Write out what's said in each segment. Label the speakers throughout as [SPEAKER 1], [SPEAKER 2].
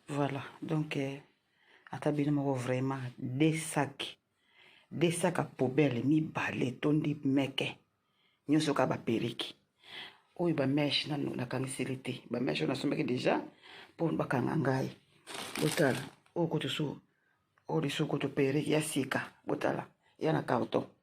[SPEAKER 1] voilà donc euh, ata bino moko vraiment de sac de sac ya poubele mibale etondi meke nyonso kaka baperiki oyo bameshe nanu nakangiseli te bameshe oyo nasombaki deja mpo bakanga ngai botala oyo kutu su oyo lisusu kutu periki ya sika botala ya na carton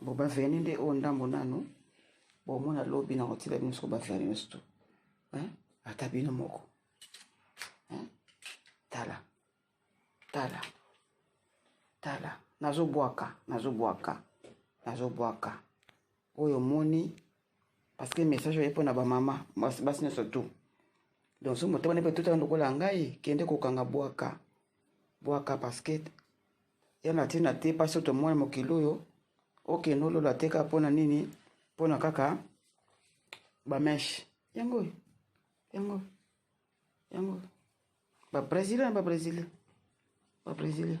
[SPEAKER 1] Bon, ba vernis nde oyo ndambo nanu bomona lobi na kotila bino soko ba vernis nyonso tu ata bino moko tala tala tala nazobwaka nazobwaka nazobwaka oyo omoni parce que message oye mpo na bamama basi nyonso tu donc so motema ne mpe totala lokola ngai kende kokanga bwaka bwaka parce que ya na ntina te mpasi oyo tomona mokili oyo okende olola te kaka mpo na nini mpo na kaka bameshe yango oyo yango oyo yango oyo babrésilien na babrésilien babrésilien